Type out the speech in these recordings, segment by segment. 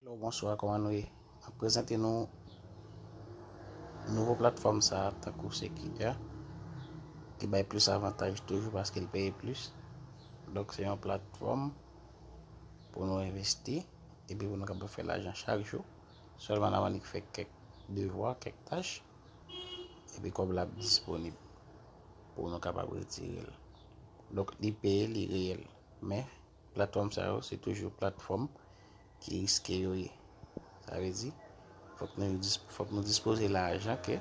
Hello bonswa koman nou ye map prezante nou nouvo platfòm sa tankou Sekinya ki bay plis avantaj toujou paske l peye plis donk se yon platfòm pou nou envesti epi pou nou kapab fè lajan chak jou sèlman nan manik fè kèk devwa kèk tach epi kòb la ap disponib pou nou kapab retire l donk li peye li reyèl men Platfòm sa yo se toujou platfòm ki riske yo ye. Sa vle di, fòk nou fòk nou dispoze lajan ke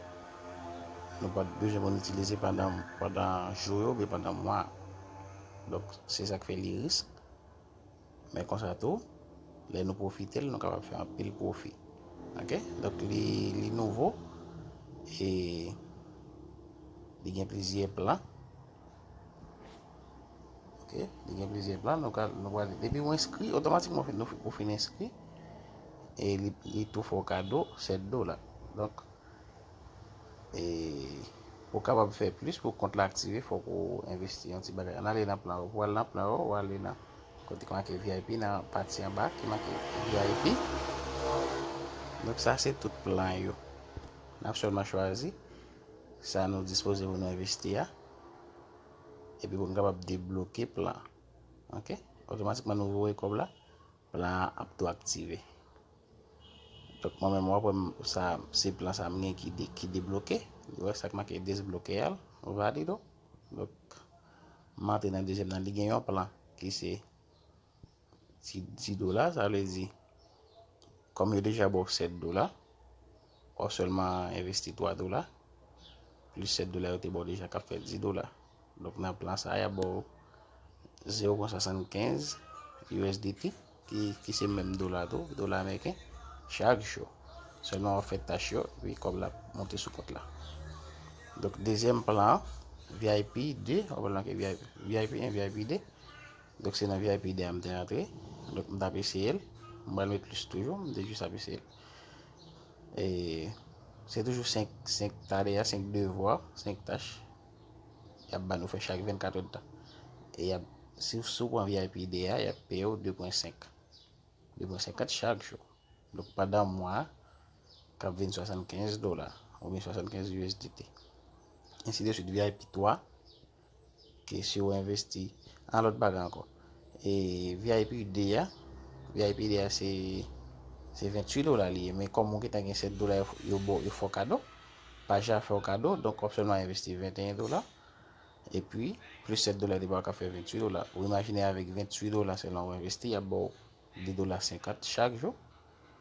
nou pa t bezwen pou nou itilize pandan pandan jou yo oubyen pandan mwa. Donk, se sa k fè li risk. Men konsa tou, lè nou pwofite l, nou kapab fè anpil pwofi. Ok? Donk li li nouvo e li gen plizyè plan. Ok, li gen plizyè plan, nou pral, depi ou enskri, otomatikman ou fin enskri, e li tou fè ou kado 7 dola. Donk, e pou kapab fè plis pou kont la aktive, fòk ou envesti yon ti bagay. An ale nan plan ou, pou al nan plan ou, ou ale nan kote ki make VIP, nan pati an ba ki make VIP. Donk sa se tout plan yo. N ap sèlman chwazi. Sa nou dispoze pou nou envesti a, epi pou nou kapab debloke plan. Ok, otomatikman nou voye kòb la, plan an ap tou aktive. Dok mwen menm wap wèm sa se plan sa mwen gen ki debloke, wè sak make desbloke al, valido. Dok mwen antre nan dezyèm nan, li gen yon plan ki se. 10 dola sa vle di kòm yo deja baw 7 dola wap sèlman envesti 3 dola plis 7 dola yo te baw deja kap fè 10 dola donk nan plan sa ya baw 0.75 USDT ki se menm dola tou dola ameriken chak jou sèlman wap fè tach yo epi kòb la monte sou kont la donk dezyèm plan VIP 2 wap lan ke VIP 1 VIP 2 Donk se nan vip 2 a m te rantre. Donk m t ap eseye l. M pral met plis toujou. M te jis ap eseye l. E se toujou 5 5 tale a 5 devwa 5 tach y ap ba nou fè chak 24 èd tan. E y ap si w si w pran vip 2 a y ap peye w 2.5 2.50 chak jou. Donk pandan mwa a k ap vin 75 dola oubyen 75 usdt. Ensideswit vip 3. Ke si ou envesti nan lòt bagay ankò. E vip 2 a, vip 2 a se 28 dola li ye. Men kòm ou gentan gen 7 dola yo baw yo fè w kado. Page la fè w kado, donk wap sèlman envesti 21 dola. E pi, plis 7 dola li baw kap fè 28 dola. Ou imajine avèk 28 dola sèlman ou envesti yap baw 2 dola 50 chak jou.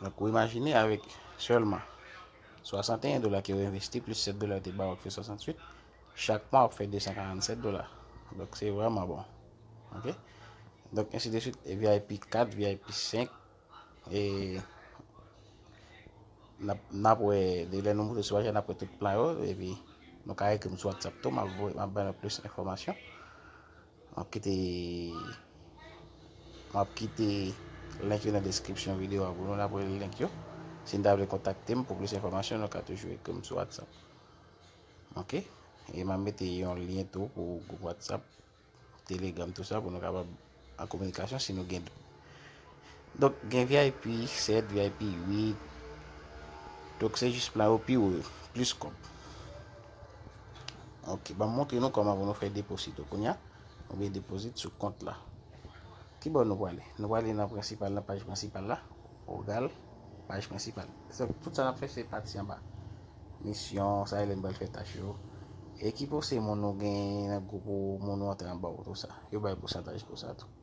Donk ou imajine avèk sèlman 61 dola ke ou envesti plis 7 dola te ba ou fè 68, chak mwa ou fè 247 dola. Donk se vreman bon. Ok? Donk ensi de suit, VIP 4, VIP 5, e nap wè de lè nou moute sou ajan nap wè tout plan yo, epi nou ka ekri m sou WhatsApp tou, map bay nou plis enfòmasyon. Map kite Map kite link yo nan description video a pou nou apre li link yo si nou ta vle kontakte m pou plis enfòmasyon nou ka toujou ekri m sou whatsapp ok e map mete yon lien tou pou group whatsapp telegram tout sa pou nou kapab an kominikasyon si nou gen Donk gen vip 7 vip 8 Donk se jis plan yo pi wo yo plis kòb Ok banm montre nou kòman pou nou fè deposito kounya Nou vle deposit sou kont la Ki bò nou pwale nou pwale nan prensipal nan paj prensipal la Ou gal paj prensipal Tout sa nap fè se pati anba Misyon sa elèn bal fè tach yo E ki pou se moun nou gen nan group ou moun ou antre anba ou tout sa Yo bay pousantaj pou sa tou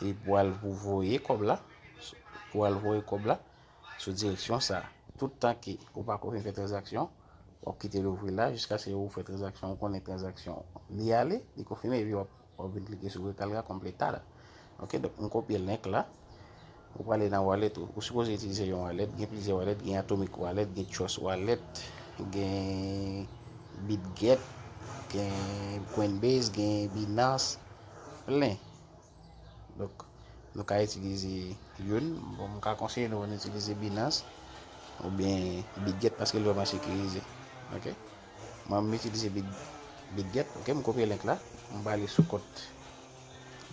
E pou al pou voye kòb la, pou al voye kòb la sou direksyon sa. Tout tan ke ou pa ko fin fè tranzaksyon, wap kite l ouvri la jiskaske ou fè tranzaksyon, ou konnen tranzaksyon li ale, li konfime epi wap wap vin klike sou rekalga completar. Ok, donk m kopye link la. Ou prale nan wallet ou. Ou sipoze itilize yon wallet. Gen plizyè wallet. Gen Atomic Wallet, gen Trust Wallet, gen Bitget, gen Coinbase, gen Binance, plen. Donk, nou ka itilize youn. Bon, mwen ka konseye nou pou nou itilize Binance ou byen Bitget paske li vreman sekirize. Ok? Mwen mwen itilize Bitget. Ok? Mwen kopye link la. Mwen prale sou kont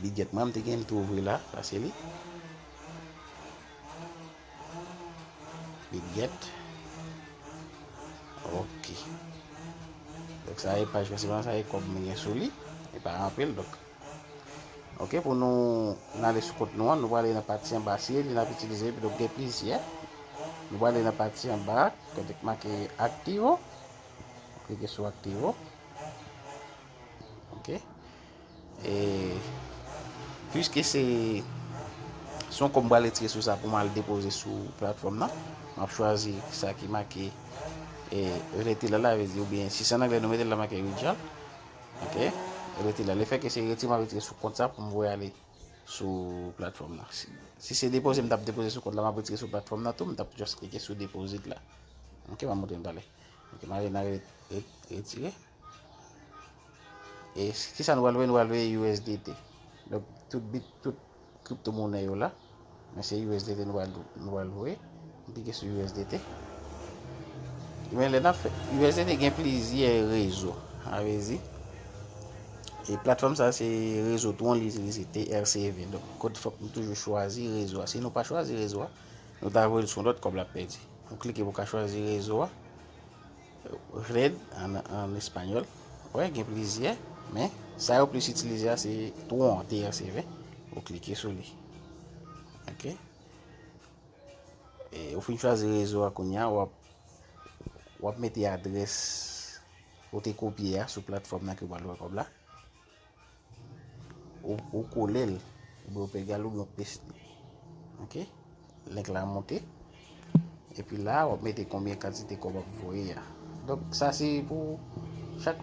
Li gèt manm te gen tou vre la sa se li li gèt ok dok sa e paj prensipal sa e kòb mwen gen sou li e pa anpil dok ok pou nou nan le sou kont nou an nou wale nan pati an ba si li nan pitilize pi dok gen plizyè nou wale nan pati an ba kote k make aktivo klike sou aktivo ok E pwiske se yon kò m pral retire sou sa pou m al depoze sou platfòm nan, m ap chwazi sa ki make retirement la, oubyen si se an anglè nou mete l la make withdrawal. Ok, retirement la. Lefètke se retirement m ap retire sou kont sa pou m voye ale sou platfòm nan. Si se depoze m t ap depoze sou kont la, m ap retire sou platfòm nan tou, m t ap just klike sou deposit la. Ok, m ap montre m talè. Ok, m ale nan retire. E ki sa nou wèl wè nou wèl wè USDT. Donk tout bit tout kripto moune yo la. Men se USDT nou wèl nou wèl wè. Mwen pike sou USDT. Men lè nan fè USDT gen plizye rezo. A vezi. E platfòm sa se rezo tron li itilize TRC20. Donk kote fòk nou toujou chwazi rezo a. Si nou pa chwazi rezo a. Nou ta vwèl sou lòt kòb la pèdi. Mwen klike pou ka chwazi rezo a. Red, an espanyòl, wè gen plizyè, men sa yo plis itilize a se Tron, TRCV, ou klike sou li. Ok. E ou fin chwazi rezo a kounya, wap wap mete adrès ou te kopye a sou platfòm nan ke w pral wè kòb la. Ou kolel oubyen ou pegal oubyen ou pes li ok link la monte epi la wap mete konbyen kantite kob wap voye ya donk sa se pou chak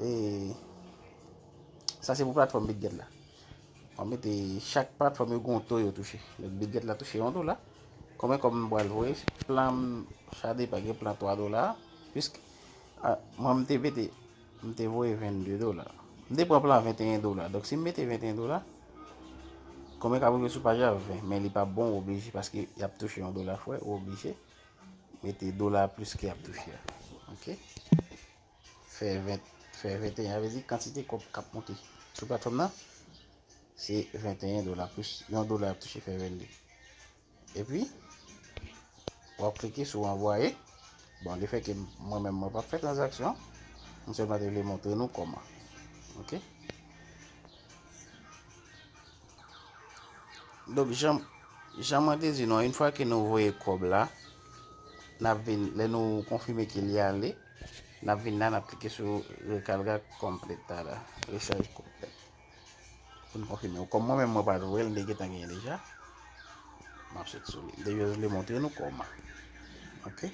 e sa se pou platfòm bitget la wap mete chak platfòm yo gon to yo touche bitget la touche yon dola konbyen kob m pral voye plan sa depan gen plan 3 dola pisk mwen m te mete M te voye 22 dola. M te pran plan 21 dola. Donk si m mete 21 dola, konbyen kap rive sou paj la? 20. Men li pap bon ou oblije paske yap touche yon dola fwè ou oblije mete dola plis ke yap touche a. Ok. Fè 20, fè 21 avè di kantite kòb kap monte sou platfòm nan se 21 dola plis yon dola yap touche fè 22. Epi, wap klike sou anvwaye. Bon, le fè ke mwen menm mwen pap fè tranzaksyon, mwen sèlman te vle montre nou kòman. Ok. Donk, jan mwen te di nou, yon fwa ke nou voye kòb la, nap vin, lè nou konfime ke li ale, nap vin la, nap klike sou rekalga kompleta la. Rechaj kompleta. Pou n konfime ou. Kòm mwen menm mwen pat wèl m te gentan genyen deja. Map sot sou li. M te just vle montre nou kòm an. Ok.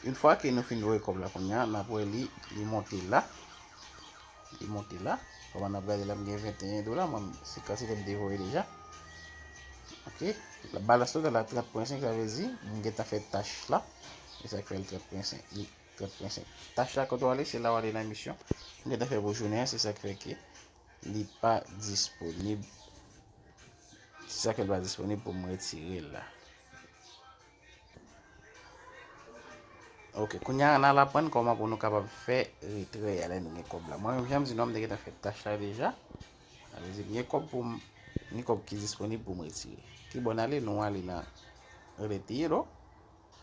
Une fwa ke nou fin voye kòb la kounya nap wè li li monte la. Li monte la. Kòman nap gade la m gen 21 dola mwen se kantite m te voye deja. Ok. Balans total la 30.5 sa vle di m gentan fè tach la. E sak fè l 30.5. Kot mwen se. Tach la kote w ale se la w ale nan misyon. M gentan fè pou jounen an se sak fè ke li pa disponib. Se sak fè li pa disponib pou m retire l la. Ok kounya an al aprann kòman pou nou kapab fè retrè a lè nou gen kòb la. Mwen menm jan m di nou an m te gentan fè tach la deja. Sa vle di m gen kòb pou m gen kòb ki disponib pou m retire. Kibò n ale nou ale nan rele peye lo.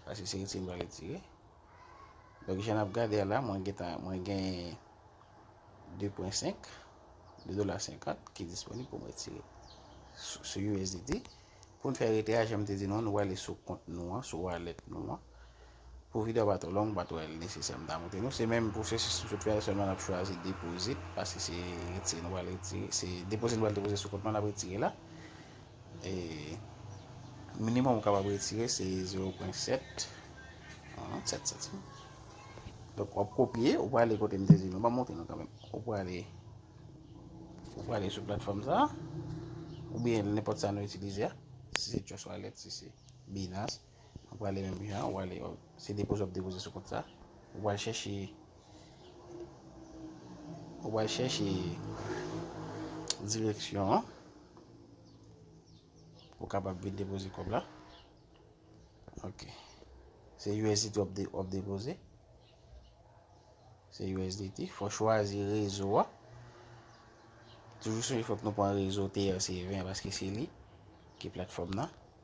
Paske se retire m pral retire. Donk jan nap gade a la mwen gentan mwen gen 2.5 2 dola 50 ki disponib pou mwen retire sou USDT pou n fè rete a janm te di nou nou wale sou kont nou an sou wallet nou an pou video pa to long pa to el nesesè m ta montre nou se menm pou se sou tout fè sèlman nap chwazi deposit paske se retire nou wale retire se deposit nou wale deposit sou kont nou an nap retire la E minimòm ou kapab retire se 0 pwen 7. An, 7 santim. Donk, wap kopye, ou pwale kote m te di nou. Ba montre nou kanmen. Ou pwale, ou pwale sou platfòm sa. Ou byen, nenpòt sa nou itilize a. Si se Trust Wallet, si se Binance. Ou prale menm jan ou ale se depoze wap depoze sou kont sa. Ou pral chèche ou pral chèche direksyon an pou kapab vin depoze kòb la. Ok. Se USDT wap de wap depoze. Se USDT, fò chwazi rezo a. Toujou sonje fòk nou pran rezo TRC20 paske se li ki platfòm nan.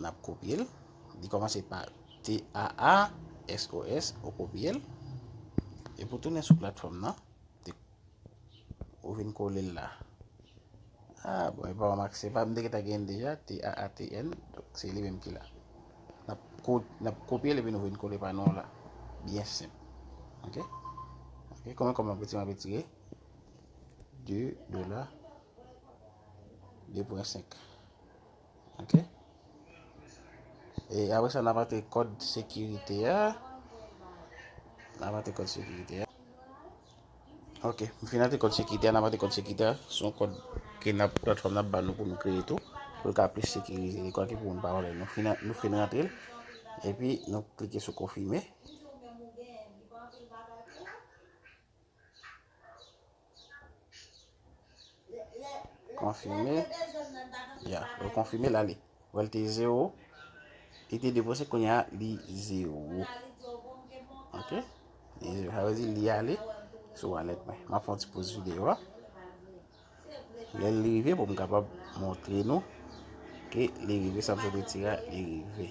N ap kopye l. Li kòmanse pa TAASOS. Ou kopye l. Epi ou tounen sou platfòm nan. Ou vin kole l la. A, bon, e pa remak. Se pa m te gentan gen deja. TAATN. Donk, se li menm ki la. N ap kopye l epi nou vin kole pa nou la. Byen senp. Ok? Ok? Kòman kòman pou ti m ap etire? 2 dola. 2 pwen 5. Ok. E apre sa n ap antre kòd sekirite a. N ap antre kòd sekirite a. Ok, m fin antre kòd sekirite a, n ap antre kòd sekirite a. Se yon kòd ke n ap, platfòm nan ap ban nou pou nou kreye tou. Pou l ka plis sekirize li, kwa ki pou moun pa vòlè l. Nou fin, nou fin rantre l. Epi nou klike sou konfime. Konfime. Ya, yo konfime la li. Wèl te 0. Li te depose koun ya li 0. Ok. Li 0. Awe di li ale. Sou wallet mwen. Ma fon ti pose video a. Lè li rive pou m kapab montre nou. Ke li rive. Sa m se de tira. Li rive.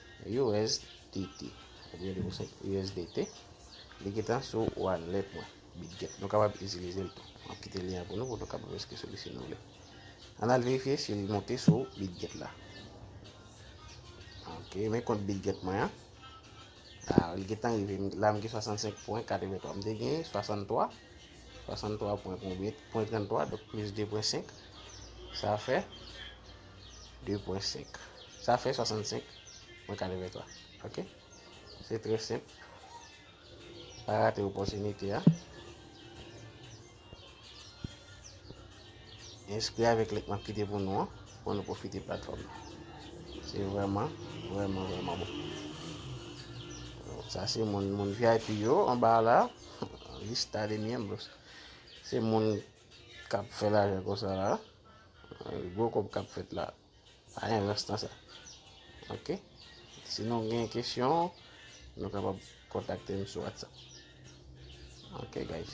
USDT oubyen li pousèt USDT li gentan sou wallet mwen Bitget nou kapab itilize l tou map kite lyen an pou nou pou nou kapab enskri sou li si nou vle an al verifye si li monte sou Bitget la ok men kont Bitget mwen an a li gentan rive la m gen 65.83 m te gen 63 63.33 dok plis 2.5 sa fè 2 pwen 5. Sa fè 65 mwen 83. Ok? Se trè senp. Pa rate opotinite a. Enskri avèk link map kite pou nou an. Pou nou profite platform. Se vreman, vreman, vreman bon. Sa se moun, moun VIP yo, anba la. Lista de miembros. Se moun... kap fè lajan konsa la gwo kob kap fèt la pa gen rans nan sa ok si nou gen kesyon nou kapab kontakte m sou whatsapp ok guys